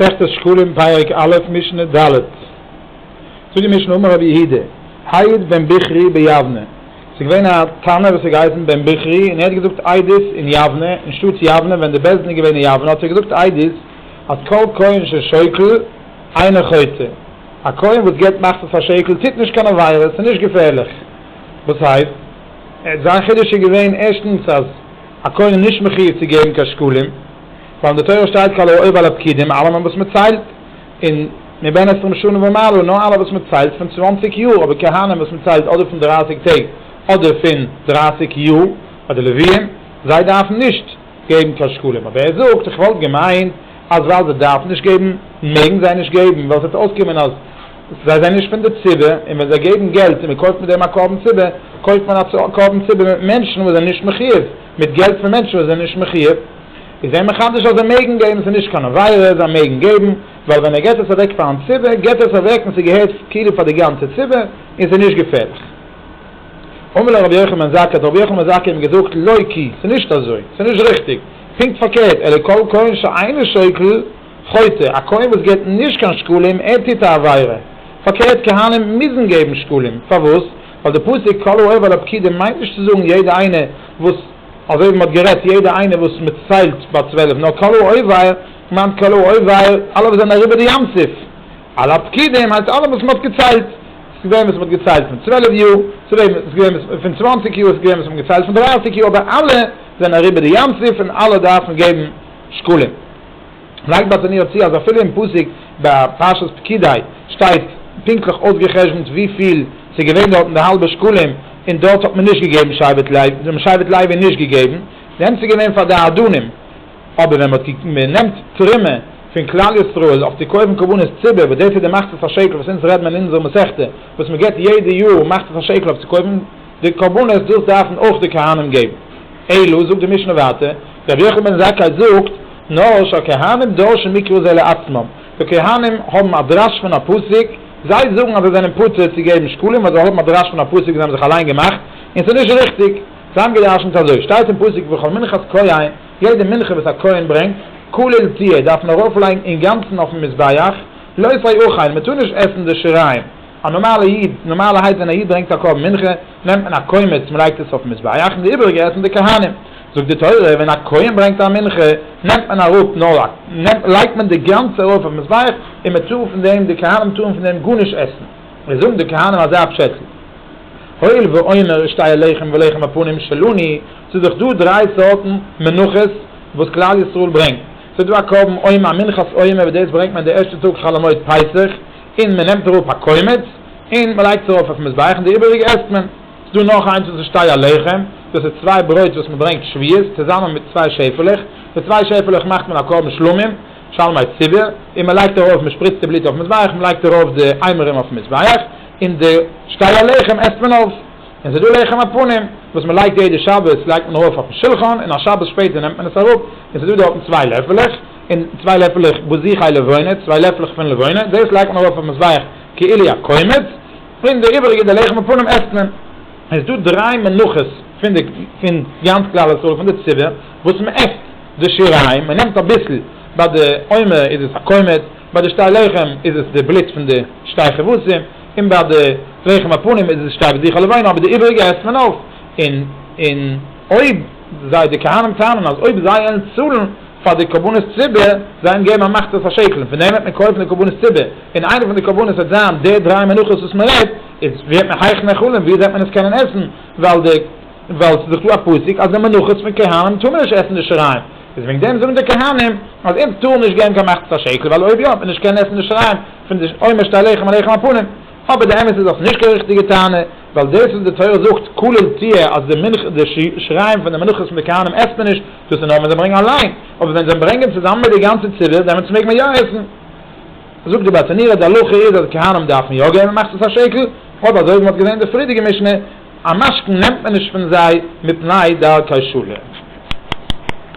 מסכת שקלים פרק א' משנה ד', זאגט די משנה אמר רבי יהודה היד בן בכרי ביבנה, ס'איז געווען א תנא וואס האט געהייסן בן בכרי און ער האט געזאגט עדות אין יבנה, אין שטאט יבנה ווען די בית דין איז געווען אין יבנה האט ער געזאגט עדות אז כל כהן ששוקל אינו חוטא, א כהן וואס געבט מחצית א שקל טוט נישט קיין עבירה, ס'איז נישט געפערליך, וואס הייסט? זיין חידוש איז געווען ערשטנס אז א כהן איז נישט מחיוב צו געבן קיין שקלים. ווייל אין די תורה שטייט כל העובר על הפקידים אלעמען וואס מען ציילט, און מבין עשרים שנה ומעלה נאר אלע וואס מען ציילט פון צוואנציג יאר, אבער כהנים וואס מען ציילט אדער פון דרייסיג טעג אדער פון דרייסיג יאר, ביי די לוויים, זיי דארפן נישט געבן קיין שקלים, אבער ער זאגט איך וואלט געמיינט אז ווייל זיי דארפן נישט געבן מעגן זיי נישט געבן, ווייל עס וועט אויסקומען אז זיי זענען נישט פון די ציבור, און ווען זיי געבן געלט און מען קויפט מיט דעם א קרבן ציבור, קויפט מען א קרבן ציבור מיט מענטשן וואס זענען נישט מחיוב, מיט געלט פון מענטשן וואס זענען נישט מחיוב. איז זיי מחדש אז זיי מעגן געבן, ס'איז נישט קיין עבירה, זיי מעגן געבן, ווייל ווען ער געט עס אוועק פאר אן ציבור, געט ער עס אוועק און ס'געהערט כאילו פאר די גאנצע ציבור, און ס'איז נישט געפערליך. אמר לו רבי יוחנן בן זכאי, האט רבי יוחנן בן זכאי אים געזאגט, לא כי, ס'איז נישט אזוי, ס'איז נישט ריכטיג, פונקט פארקערט, אלא כל כהן שאינו שוקל, חוטא, א כהן וואס געט נישט קיין שקלים, ער טוט א עבירה. פארקערט, כהנים מוזן געבן שקלים. פארוואס? ווייל די פסוק כל האוהב על הפקידים מיינט נישט צו זאגן יעדע איינער וואס. אזוי ווי מען האט גערעדט יעדע איינער וואס מען ציילט ביי צוועלף נאר קאלא אויוועיר מיינט קאלא אויוועיר אלע וואס זענען אריבער די ים סוף על הפקידים הייסט אלע וואס מען האט געציילט ס'איז געווען וואס מען האט געציילט פון צוועלף יאר ס'איז געווען וואס פון צוואנציג יאר ס'איז געווען וואס מען האט געציילט פון דרייסיג יאר אבער אלע זענען אריבער די ים סוף און אלע דארפן געבן שקלים. לייגט באטניר צו אז אפילו אין פסוק ביי פרשת פקידי שטייט פונקטליך אויסגעחשבונט וויפיל ס'איז געווען דארטן די האלבע שקלים און דארט האט מען נישט געגעבן שבט לוי, זיי האבן שבט לוי נישט געגעבן דען ס'איז געווען פאר די אדונים, אבער ווען מען נעמט תרומה פון כלל ישראל אויף צו קויפן קרבנות ציבור וואס דאס איז די מחצית השקל וואס אונז רעדן אין אונזער מסכתא וואס מען געבט יעדע יאר מחצית השקל אויף צו קויפן די קרבנות דאס דארפן אויך די כהנים געבן. אלא, זאגט די משנה ווייטער, רבי יוחנן בן זכאי זאגט, נאר שהכהנים דורשין מקרא זה לעצמם, די כהנים האבן א דרש פון א פסוק, זיי זאגן אז זיי זענען פטור צו געבן שקלים ווייל זיי האבן א דרש פון א פסוק וואס זיי האבן זיך אליין געמאכט, און ס'איז נישט ריכטיג. זיי האבן גע'דרש'נט אזוי, שטייט אין פסוק וכל מנחת כהן, יעדע מנחה וואס א כהן ברענגט, כולל תהיה, דארף מען ארויפלייגן אינגאנצן אויפן מזבח, לא ישרי אוכיין, מ'טאר נישט עסן די שיריים. א נארמאלע איד, נארמאלערהייט ווען א איד ברענגט א קרבן מנחה, נעמט מען א קומץ, מען לייגט עס אויפן מזבח, און די איבעריגע עסן די כהנים. זאגט די תורה, ווען א כהן ברענגט א מנחה, נעמט מען אראפ נאר א, לייגט מען די גאנצע ארויף אויפן מזבח, און מען טאר פון דעם, די כהנים טארן פון דעם גארנישט עסן. עס זאגן די כהנים אזא פשעטל, הואיל ואומר אשתי הלחם ולחם הפנים שלוני, ס'איז דאך דא דריי סארטן מנחות וואס כלל ישראל ברענגט, ס'איז דא א קרבן עומר, א מנחת עומר, וואס דאס ברענגט מען די ערשטע טאג חול המועד פסח, און מען נעמט אראפ א קומץ און מען לייגט עס ארויף אויפן מזבח און די איבעריגע עסט מען. ס'איז דא נאך איינס וואס איז שתי הלחם, דאס איז צוויי ברויט וואס מען ברענגט שביעית צוזאמען מיט צוויי שעפעלעך, די צוויי שעפעלעך מאכט מען א קרבן שלמים, שלמי ציבור, און מען לייגט ארויף, מען שפריצט די בלוט אויפן מזבח, מען לייגט ארויף די איימערים אויפן מזבח, און די שתי הלחם עסט מען אויף. און ס'איז דא לחם הפנים וואס מען לייגט יעדע שבת לייגט מען ארויף אויפן שולחן און א שבת שפעטער נעמט מען עס אראפ און ס'איז דא דארטן צוויי לעפעלעך, און צוויי לעפֿלעך בוזיחי לבֿונה, צוויי לעפֿלעך פֿון לבֿונה, דאָס לייגט מען אַרויף אויפֿן מזבח כאיליע אַ קומץ, און די איבעריקע די לחם הפּנים עסט מען. עס איז דאָ דרײַ מנחות פֿון די פֿון גאַנץ כּלל ישראל פֿון די ציבור וואָס מען עסט די שיריים, מען נעמט אַ ביסל, בײַ די עומר איז עס אַ קומץ, בײַ די שתי לחם איז עס די בלוט פֿון די שתי כבשים, און בײַ די לחם הפּנים איז עס די שתי בוזיחי לבֿונה, אָבער די איבעריקע עסט מען אויף, און און אויב זיי די כּהנים טענהן אַז אויב זיי וועלן צאָלן, פאר די קרבנות ציבור זיי האבן געגעבן א מחצית השקלים פון דעם וועט מען קויפן די קרבנות ציבור און איינע פון די קרבנות וועט זיין די דריי מנחות וואס מען רעדט איז ווערט מען הייך נעכלים ווי וועט מען עס קענען עסן ווייל די ווייל ס'איז דאך דא א פסוק אז די מנחות פון כהנים טאר מען נישט עסן די שיריים איז וועגן דעם זאגן די כהנים אז אונז טארן נישט געבן קיין מחצית השקל ווייל אויב יא וועט מען נישט קענען עסן די שיריים פון די עומר שתי לחם עליכם הפנים. אבער די אמת איז אז ס'איז נישט קיין ריכטיגע טענה, ווייל דאס וואס די תורה זאגט כולל תהיה אז די מנחה די שיריים פון די מנחות פון די כהנים עסט מען נישט, דאס איז נאר ווען זיי ברענגען אליין, אבער ווען זיי ברענגען צוזאמען מיט די גאנצע ציבור דעמאלטס מעג מען יא עסן. זאגט די בת ענירה, די הלכה איז אז כהנים דארף מען יא געבן מחצית השקל, אבער אזוי ווי מ'האט געזען אין די פרידיגע משנה, א משכון נעמט מען נישט פון זיי מפני דרכי שלום.